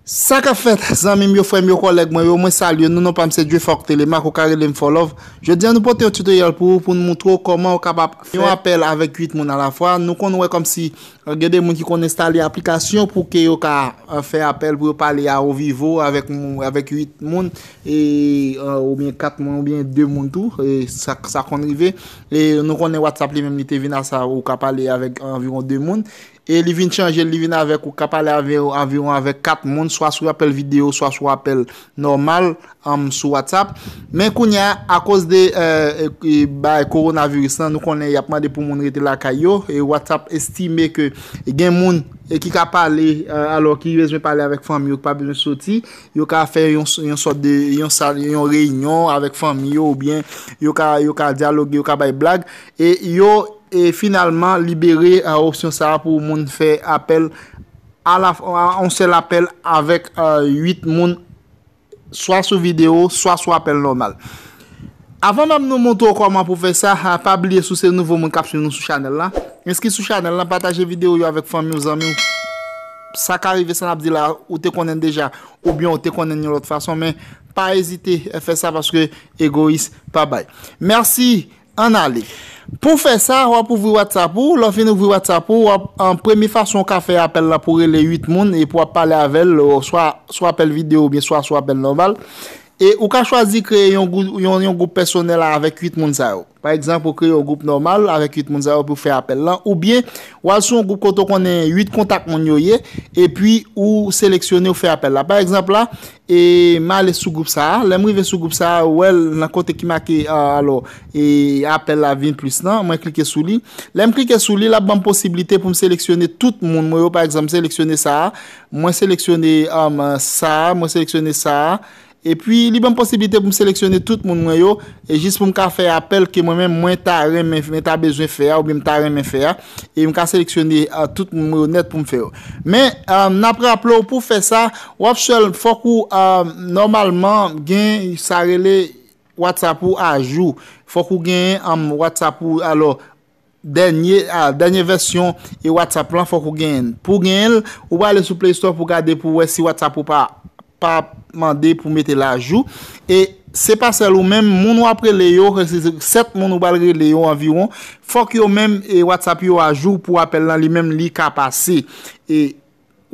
Sa kap fèt zanmim yo frèm yo kòlèg mwen yo mwen salye nou non pam se Djefok Telemak ou ka relem Fòlòv jodi an nou pote yon tutorial pou ou pou nou moutre ou kòman ou kapab fè yon apèl avèk 8 moun alafwa nou konn wè kòmsi Gen de moun ki konn enstale aplikasyon pou ke yo ka fè apèl pou yo pale a on vivo avèk 8 moun oubyen 4 moun oubyen 2 moun tou sa konn rive e nou konnen WhatsApp li menm li te vin a sa ou ka pale avèk anviwon 2 moun e li vin chanje li vin avèk ou ka pale anviwon avèk 4 moun swa sou apèl video swa sou apèl nòmal sou WhatsApp men kounya akoz de bagay coronavirus lan nou konnen yap mande pou moun rete lakay yo e WhatsApp estime ke gen moun ki ka pale alò ki bezwen pale avèk fanmi yo ki pa bezwen soti yo ka fè yon sòt de yon reyinyon avèk fanmi yo oubyen yo ka dyaloge yo ka bay blag e yo finalman libere opsyon sa a pou moun fè apèl yon sèl apèl avèk 8 moun swa sou video, swa sou apèl nòmal. Avan menm nou montre w kòman pou fè sa, pa bliye si w se nouvo moun k ap swiv nou sou chanèl la, enskri sou chanèl la, pataje video yo avèk fanmi w, zanmi w. Sa ka rive sa n ap di la ou te konnen l deja, oubyen ou te konnen l yon lòt fason, men pa ezite fè sa paske egoyis pa bay. Mèsi! Ann ale. Pou w fè sa, w ap ouvri WhatsApp ou. Lè w fin ouvri WhatsApp ou, w ap, premye fason ou ka fè apèl la pou w rele 8 moun epi w ap pale avè l swa sou apèl videyo oubyen swa sou apèl nòmal. E ou ka chwazi kreye yon yon yon gwoup pèsonèl avèk 8 moun sa yo. Pa egzanp, ou kreye yon gwoup nòmal avèk 8 moun sa yo epi w fè apèl lan oubyen w al sou yon gwoup kote w konnen 8 kontak moun yo ye epi ou seleksyone ou fè apèl la. Pa egzanp la, E m ale sou gwoup sa a. Lè m rive sou gwoup sa a, wè l nan kote ki make alò e apèl la vin plis lan. Mwen klike sou li. Lè m klike sou li, l ap ban m posiblite pou m seleksyone tout moun mwen yo. Pa egzanp, m seleksyone sa a. Mwen seleksyone sa a. Mwen seleksyone sa a. Epi, li ban m posiblite pou m seleksyone tout moun mwen yo. E jis pou m ka fè apèl ke mwen menm mwen ta renmen, mwen ta bezwen fè a oubyen m ta renmen fè a, e m ka seleksyone tout moun mwen yo nèt pou m fè yo. Men, n ap raple w pou w fè sa, w ap sèl, fòk ou nòmalman gen sa rele WhatsApp ou ajou. Fòk ou gen WhatsApp ou, alò, Dènye a, dènye vèsyon e WhatsApp lan fòk ou genyen l. Pou genyen l, ou prale sou Play Store pou gade pou wè si WhatsApp ou pa pa mande pou mete l ajou. E se pa sèl ou menm, moun wap rele yo, se 7 moun ou pral rele yo anviwon, fòk yo menm e WhatsApp yo ajou pou apèl lan li menm li ka pase. E.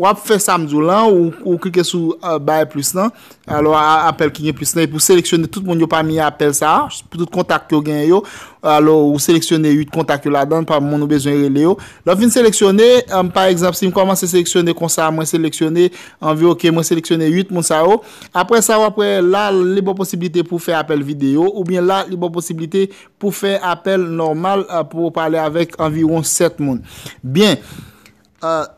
Wap fè sam diw lan, ou klike sou bay plis lan, alò apèl ki gen plis lan, epi ou seleksyone tout moun yo pami apèl sa, pou tout kontak yo gen yo, alò ou seleksyone 8 kontak yo ladan, pa moun ou bezwen rele yo, lèw fin seleksyone, pa egzanp sim kòmanse seleksyone konsa, mwen seleksyone, anvi ok, mwen seleksyone 8 moun sa yo, aprè sa wap wè la li baw posibilite pou fè apèl video, oubyen la li baw posibilite pou fè apèl nòmal pou ou pale avèk anviwon 7 moun. Byen.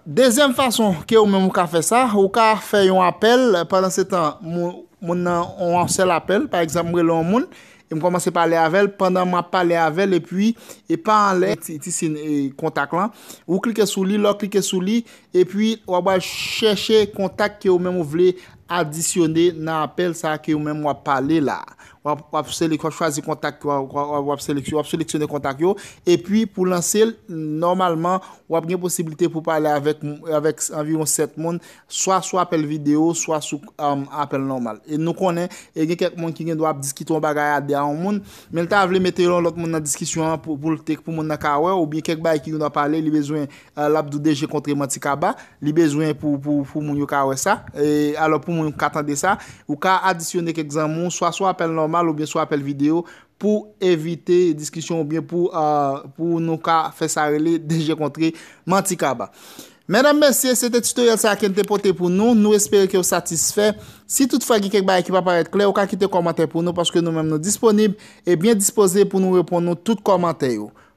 Dezyèm fason ke ou menm ou ka fè sa, ou ka fè yon apèl, pandansetan moun nan on sèl apèl, pa egzanp m rele on moun e m kòmanse pale avè l, pandan m ap pale avè l epi e pa anlè ti sin kontak lan, ou klike sou li, lè w klike sou li epi w ap al chèche kontak ke ou menm ou vle adisyone nan apèl sa ke ou menm w ap pale la. Wap selek wap chwazi kontak yo wap selek wap seleksyone kontak yo epi pou lanse l nòmalman wap gen posiblite pou pale avèk avèk anviwon 7 moun swa sou apèl videyo swa sou apèl nòmal e nou konnen e gen kèk moun ki gendwa ap diskite yon bagay a 2 a yon moun men l ta vle mete yon lòt moun nan diskisyon an pou l te pou moun nan ka wè oubyen kèk bagay ki gendwa pale li bezwen Lap dou DG kontre manti kaba, li bezwen pou pou moun yo ka wè sa. Alò pou moun ka tande sa, ou ka adisyone kèk zanmi w swa sou apèl nòmal oubyen sou apèl videyo pou evite diskisyon oubyen pou pou nou ka fè sa rele DG kontre manti kaba. Medam mesye, se te tutoriel sa ken te pote pou nou, nou espere ke ou satisfè. Si tout fwa gen kèk bagay ki pa parèt klè, ou ka kite kòmantè pou nou paske nou menm nou disponib e byen dispoze pou nou reponn nou tout kòmantè yo.